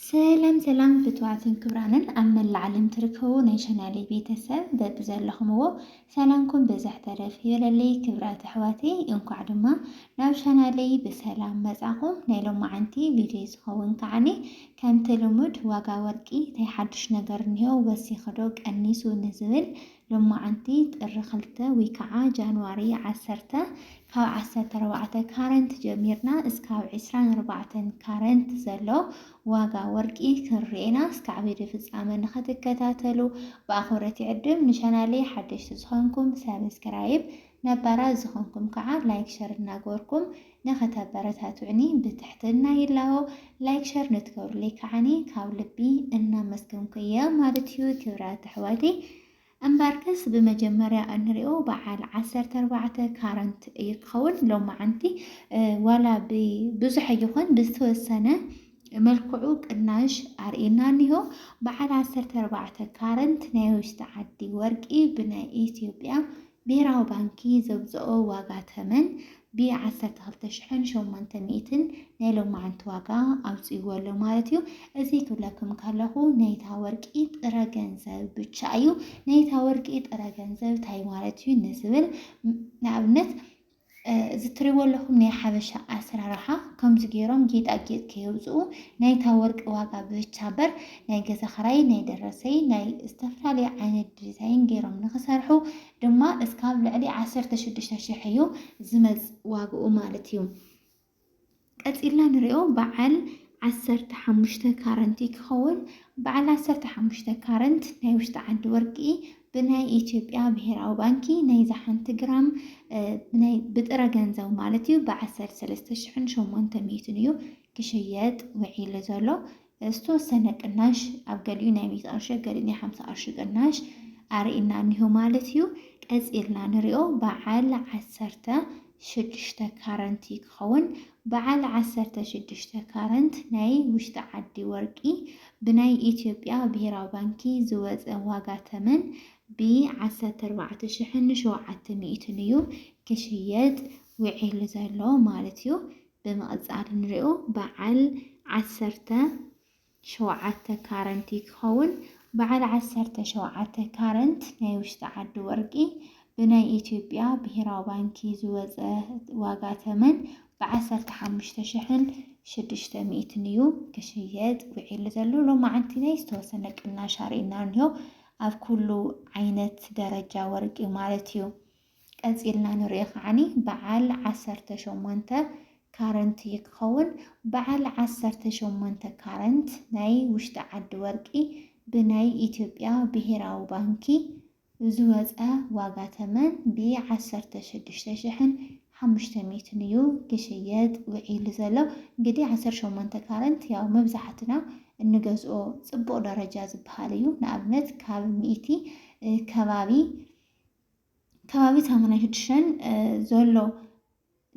ሰላም ሰላም ፍትዋትን ክብራንን ኣብ መላእ ዓለም ትርከቡ ናይ ቻናሌ ቤተሰብ በብዘለኹምዎ ሰላምኩም ብዝሕ ተረፍ ይበለለይ። ክብራት ኣሕዋተይ እንኳዕ ድማ ናብ ቻናለይ ብሰላም መጻኹም። ናይ ሎማዓንቲ ቪድዮ ዝኸውን ከዓኒ ከምቲ ልሙድ ዋጋ ወርቂ እንታይ ሓዱሽ ነገር እኒሆ ወሲኽዶ ቀኒሱ ንዝብል ሎማዓንቲ ጥሪ ክልተ ወይ ከዓ ጃንዋሪ ዓሰርተ ካብ ዓሰርተ ኣርባዕተ ካረንት ጀሚርና እስካብ ዕስራን ኣርባዕተን ካረንት ዘሎ ዋጋ ወርቂ ክንርኤና እስካዕ ቪድዮ ፍፃመ ንክትከታተሉ ብኣኽብረት ይዕድም ንቻናለይ ሓደሽቲ ዝኾንኩም ሰብስክራይብ ነባራት ዝኾንኩም ከዓ ላይክ ሸር እናገበርኩም ንኸተበረታቱዕኒ ብትሕትና ይላቦ። ላይክ ሸር ንትገብሩለይ ከዓኒ ካብ ልቢ እናመስገንኩ እየ ማለት እዩ ክብራት ኣሕዋተይ። እምበርከስ ብመጀመርያ እንሪኦ በዓል ዓሰርተ ኣርባዕተ ካረንት እዩ ክኸውን ሎማዓንቲ ዋላ ብዙሕ ኣይኾን ብዝተወሰነ መልክዑ ቅናሽ ኣርእና እኒሆ በዓል ዓሰርተ ኣርባዕተ ካረንት ናይ ውሽጢ ዓዲ ወርቂ ብናይ ኢትዮጵያ ብሄራዊ ባንኪ ዘውፀኦ ዋጋ ተመን ብ ዓሰርተ ክልተ ሽሕን ሸሞንተ ሚእትን ናይ ሎማዓንቲ ዋጋ ኣውፂእዎ ኣሎ ማለት እዩ። እዙይ ክብለኩም ከለኹ ናይታ ወርቂ ጥረ ገንዘብ ብቻ እዩ። ናይታ ወርቂ ጥረ ገንዘብ ታይ ማለት እዩ ንዝብል ንኣብነት እዚ ትሪእዎ ኣለኹም ናይ ሓበሻ ኣሰራርሓ ከምዚ ገይሮም ጌጣጌጥ ከየውፅኡ ናይታ ወርቂ ዋጋ ብቻ በር ናይ ገዛ ክራይ ናይ ደረሰይ ናይ ዝተፈላለዩ ዓይነት ዲዛይን ገይሮም ንክሰርሑ ድማ እስካብ ልዕሊ ዓሰርተ ሽዱሽተ ሽሕ እዩ ዝመፅ ዋግኡ ማለት እዩ። ቀጺልና ንሪኦ በዓል ዓሰርተ ሓሙሽተ ካረንት እዩ ክኸውን። በዓል ዓሰርተ ሓሙሽተ ካረንት ናይ ውሽጢ ዓዲ ወርቂ ብናይ ኢትዮጵያ ብሄራዊ ባንኪ ናይዛ ሓንቲ ግራም ብጥረ ገንዘብ ማለት እዩ ብዓሰርተ ሰለስተ ሽሕን ሸሞንተ ሚእትን እዩ ክሽየጥ ውዒሉ ዘሎ። ዝተወሰነ ቅናሽ ኣብ ገሊኡ ናይ ሚእቲ ቅርሺ ገሊኡ ናይ ሓምሳ ቅርሺ ቅናሽ ኣርእና እኒሆ ማለት እዩ። ቀፂልና ንሪኦ በዓል ዓሰርተ ሽዱሽተ ካረንት እዩ ክኸውን። በዓል ዓሰርተ ሽዱሽተ ካረንት ናይ ውሽጢ ዓዲ ወርቂ ብናይ ኢትዮጵያ ብሄራዊ ባንኪ ዝወፀ ዋጋ ተመን ብ ዓሰርተ ኣርባዕተ ሽሕን ሸውዓተ ሚእትን እዩ ክሽየጥ ውዒሉ ዘሎ ማለት እዩ። ብምቕጻል ንሪኦ በዓል ዓሰርተ ሸውዓተ ካረንት እዩ ክኸውን። በዓል ዓሰርተ ሸውዓተ ካረንት ናይ ውሽጢ ዓዲ ወርቂ ብናይ ኢትዮጵያ ብሄራዊ ባንኪ ዝወፀ ዋጋ ተመን ብዓሰርተ ሓሙሽተ ሽሕን ሽዱሽተ ሚእትን እዩ ክሽየጥ ውዒሉ ዘሎ። ሎማዓንቲ ናይ ዝተወሰነ ቅናሽ ኣርእና እንሆ ኣብ ኩሉ ዓይነት ደረጃ ወርቂ ማለት እዩ። ቀጺልና ንሪኦ ከዓኒ በዓል ዓሰርተ ሸሞንተ ካረንት እዩ ክኸውን። በዓል ዓሰርተ ሸሞንተ ካረንት ናይ ውሽጢ ዓዲ ወርቂ ብናይ ኢትዮጵያ ብሄራዊ ባንኪ ዝወፀ ዋጋ ተመን ብ ዓሰርተ ሽዱሽተ ሽሕን ሓሙሽተ ሚእትን እዩ ክሽየጥ ውዒሉ ዘሎ። እንግዲህ ዓሰርተ ሸሞንተ ካረንት ያው መብዛሕትና እንገዝኦ ፅቡቕ ደረጃ ዝበሃል እዩ። ንኣብነት ካብ ሚእቲ ከባቢ ከባቢ ሰሙናይ ሽዱሽተን ዘሎ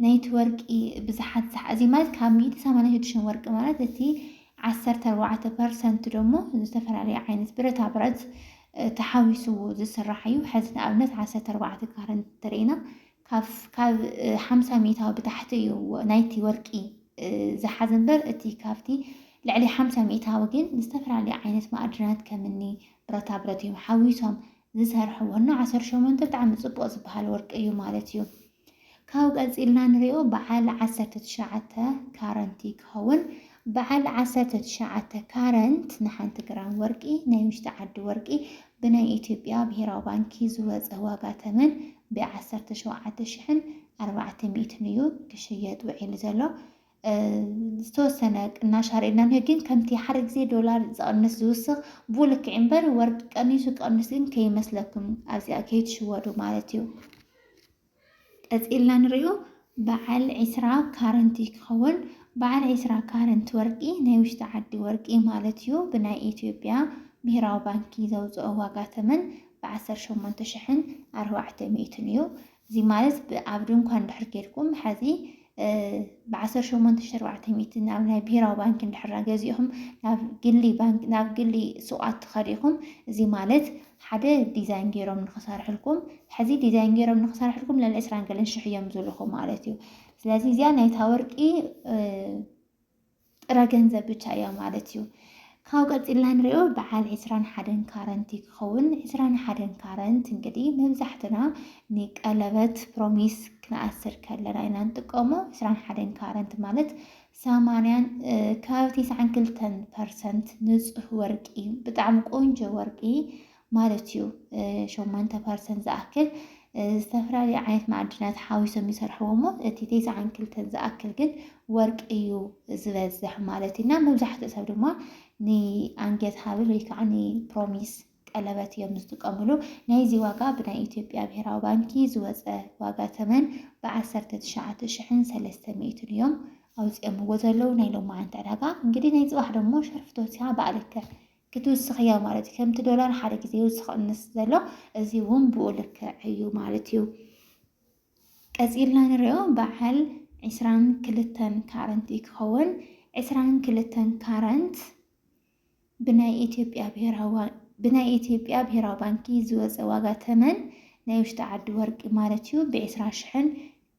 ናይቲ ወርቂ ብዝሓት ዝሓዚ ማለት ካብ ሚእቲ ሰማንያ ሽዱሽተን ወርቂ ማለት እቲ ዓሰርተ ኣርባዕተ ፐርሰንት ደሞ ዝተፈላለዩ ዓይነት ብረታ ብረት ተሓዊስዎ ዝስራሕ እዩ። ሕዚ ንኣብነት ዓሰርተ ኣርባዕተ ካረ እንተሪኢና ካብ ሓምሳ ሚእታዊ ብታሕቲ እዩ ናይቲ ወርቂ ዝሓዝ እምበር እቲ ካብቲ ልዕሊ ሓምሳ ሚእታዊ ግን ዝተፈላለዩ ዓይነት ማዕድናት ከምኒ ብረታ ብረት እዮም ሓዊሶም ዝሰርሕዎ እና ዓሰርተ ሸሞንተ ብጣዕሚ ፅቡቅ ዝበሃል ወርቂ እዩ ማለት እዩ። ካብኡ ቀፂልና ንሪኦ በዓል ዓሰርተ ትሽዓተ ካረንት እዩ ክኸውን። በዓል ዓሰርተ ትሽዓተ ካረንት ንሓንቲ ግራም ወርቂ ናይ ውሽጢ ዓዲ ወርቂ ብናይ ኢትዮጵያ ብሄራዊ ባንኪ ዝወፀ ዋጋ ተመን ብዓሰርተ ሸውዓተ ሽሕን ኣርባዕተ ሚእትን እዩ ክሽየጥ ውዒሉ ዘሎ። ዝተወሰነ ቅናሽ ኣርእና እንሄ ግን ከምቲ ሓደ ግዜ ዶላር ዝቕንስ ዝውስኽ ብኡ ልክዕ እምበር ወርቂ ቀኒሱ ክቐንስ ግን ከይመስለኩም ኣብዚኣ ከይትሽወዱ ማለት እዩ ቀፂልና ንሪኦ በዓል ዒስራ ካረንት እዩ ክኸውን በዓል ዒስራ ካረንት ወርቂ ናይ ውሽጢ ዓዲ ወርቂ ማለት እዩ ብናይ ኢትዮጵያ ብሄራዊ ባንኪ ዘውፅኦ ዋጋ ተመን ብዓሰርተ ሸሞንተ ሽሕን ኣርባዕተ ሚእትን እዩ እዚ ማለት ብ ኣብ ድንኳን እንድሕር ኬድኩም ሐዚ ብ ዓሰርተ ሸሞንተ ሽሕን ኣርባዕተ ሚእትን ናብ ናይ ብሄራዊ ባንኪ እንድሕር ገዚእኹም ናብ ግሊ ባንኪ ናብ ግሊ ሱቓት ተኸዲኹም እዚ ማለት ሓደ ዲዛይን ገይሮም ንኽሰርሕልኩም ሐዚ ዲዛይን ገይሮም ንኽሰርሕልኩም ልዕሊ ዕስራን ገለን ሽሕ እዮም ዝብልኹም ማለት እዩ። ስለዚ እዚኣ ናይታ ወርቂ ጥረ ገንዘብ ብቻ እያ ማለት እዩ። ካብ ቀፂልና ንሪኦ በዓል ዕስራን ሓደን ካረንት ክኸውን ዕስራን ሓደን ካረንት እንግዲህ መብዛሕትና ንቀለበት ፕሮሚስ ክንኣስር ከለና ኢና ንጥቀሞ ዕስራን ሓደን ካረንት ማለት ሰማንያን ከባቢ ትስዓን ክልተን ፐርሰንት ንፁህ ወርቂ ብጣዕሚ ቆንጆ ወርቂ ማለት እዩ ሸሞንተ ፐርሰንት ዝኣክል ዝተፈላለዩ ዓይነት ማዕድናት ሓዊሶም ይሰርሕዎ እሞ እቲ ቴስዓን ክልተን ዝኣክል ግን ወርቂ እዩ ዝበዝሕ ማለት እዩ እና መብዛሕትኡ ሰብ ድማ ንኣንጌት ሃብል ወይ ከዓ ንፕሮሚስ ቀለበት እዮም ዝጥቀምሉ ናይዚ ዋጋ ብናይ ኢትዮጵያ ብሄራዊ ባንኪ ዝወፀ ዋጋ ተመን ብዓሰርተ ትሽዓተ ሽሕን ሰለስተ ሚእትን እዮም ኣውፂኦምዎ ዘለዉ ናይ ሎማዓንቲ ዕዳጋ እንግዲህ ናይ ፅባሕ ደሞ ሸርፍቶት እያ በዓልከ ክትውስኽ እያ ማለት እዩ። ከምቲ ዶላር ሓደ ግዜ ይውስኽ ቅንስ ዘሎ እዚ እውን ብኡ ልክዕ እዩ ማለት እዩ። ቀፂልና ንሪኦ በዓል ዕስራን ክልተን ካረንት እዩ ክኸውን። ዕስራን ክልተን ካረንት ብናይ ኢትዮጵያ ብሄራዊ ብናይ ኢትዮጵያ ብሄራዊ ባንኪ ዝወፀ ዋጋ ተመን ናይ ውሽጢ ዓዲ ወርቂ ማለት እዩ ብዕስራ ሽሕን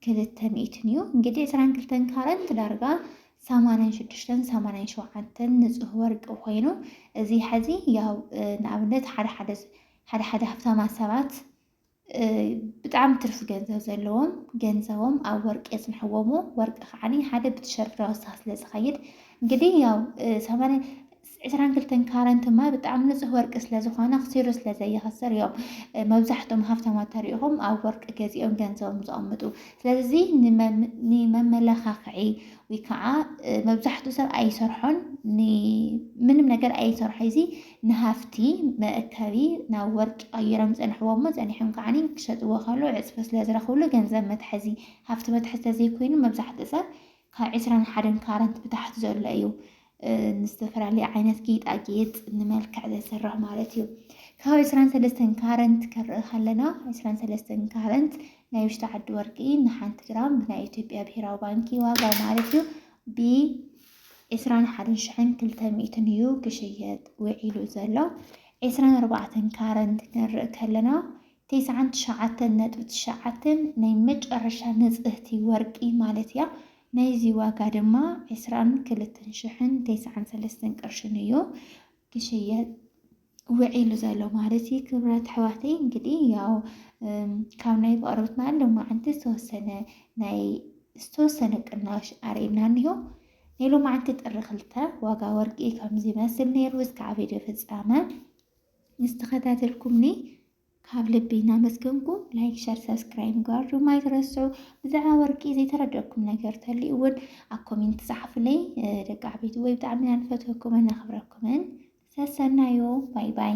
ክልተ ሚእትን እዩ እንግዲህ ዕስራን ክልተን ካረንት ዳርጋ ሰማንያን ሽዱሽተን ሰማንያን ሸውዓተን ንፁህ ወርቂ ኮይኑ እዚ ሐዚ ያው ንኣብነት ሓደ ሓደ ሓደ ሓደ ሃብታማት ሰባት ብጣዕሚ ትርፊ ገንዘብ ዘለዎም ገንዘቦም ኣብ ወርቂ የፅንሕዎሞ ወርቂ ከዓኒ ሓደ ብትሸርፍራ ወሳኽ ስለ ዝኸይድ እንግዲህ ያው ሰማንያ ዕስራን ክልተን ካረንት ድማ ብጣዕሚ ንፁህ ወርቂ ስለዝኾነ ኣኽሲሩ ስለዘይኸስር እዮም መብዛሕቶም ሃፍታማት ተሪኢኹም ኣብ ወርቂ ገዚኦም ገንዘቦም ዘቐምጡ። ስለዚ ንመመላኻኽዒ ወይ ከዓ መብዛሕትኡ ሰብ ኣይሰርሖን ምንም ነገር ኣይሰርሖ እዚ ንሃፍቲ መእከቢ ናብ ወርቂ ቀይሮም ዝፀንሕዎ እሞ ፀኒሖም ከዓ ክሸጥዎ ከለዉ ዕፅፊ ስለዝረኽብሉ ገንዘብ መትሐዚ ሃፍቲ መትሐዚ ተዘይኮይኑ መብዛሕትኡ ሰብ ካብ ዕስራን ሓደን ካራት ብታሕቲ ዘሎ እዩ ንዝተፈላለየ ዓይነት ጌጣጌጥ ንመልክዕ ዘስርሕ ማለት እዩ። ካብ ዕስራን ሰለስተን ካረንት ክንርኢ ከለና ዕስራን ሰለስተን ካረንት ናይ ውሽጢ ዓዲ ወርቂ ንሓንቲ ግራም ብናይ ኢትዮጵያ ብሄራዊ ባንኪ ዋጋ ማለት እዩ ብ ዕስራን ሓደን ሽሕን ክልተ ሚእትን እዩ ክሽየጥ ውዒሉ ዘሎ። ዕስራን ኣርባዕተን ካረንት ክንርኢ ከለና ቴስዓን ትሽዓተን ነጥቢ ትሽዓተ ናይ መጨረሻ ንጽህቲ ወርቂ ማለት እያ። ናይዚ ዋጋ ድማ ዕስራን ክልተን ሽሕን ቴስዓን ሰለስተን ቅርሽን እዩ ክሽየጥ ውዒሉ ዘሎ ማለት እዩ። ክብራት ኣሕዋተይ እንግዲህ ያው ካብ ናይ ብቕርብትና ሎማዓንቲ ዝተወሰነ ናይ ዝተወሰነ ቅናሽ ኣርእና እኒሆ ናይ ሎማዓንቲ ጥሪ ክልተ ዋጋ ወርቂ ከምዚ ይመስል ነይሩ እስካዕ ቪድዮ ፍጻመ ዝተኸታተልኩምኒ ካብ ልቢ እናመስገንኩ ላይክ፣ ሸር፣ ሰብስክራይብ ምግባር ድማ ኣይትረስዑ። ብዛዕባ ወርቂ ዘይተረደኩም ነገር ተልዩ እውን ኣብ ኮሜንት ጻሓፉለይ ደቂ ዓበይቲ ወይ ብጣዕሚ ኢና ንፈትወኩምን ነኽብረኩምን ሰሰናዩ ባይ ባይ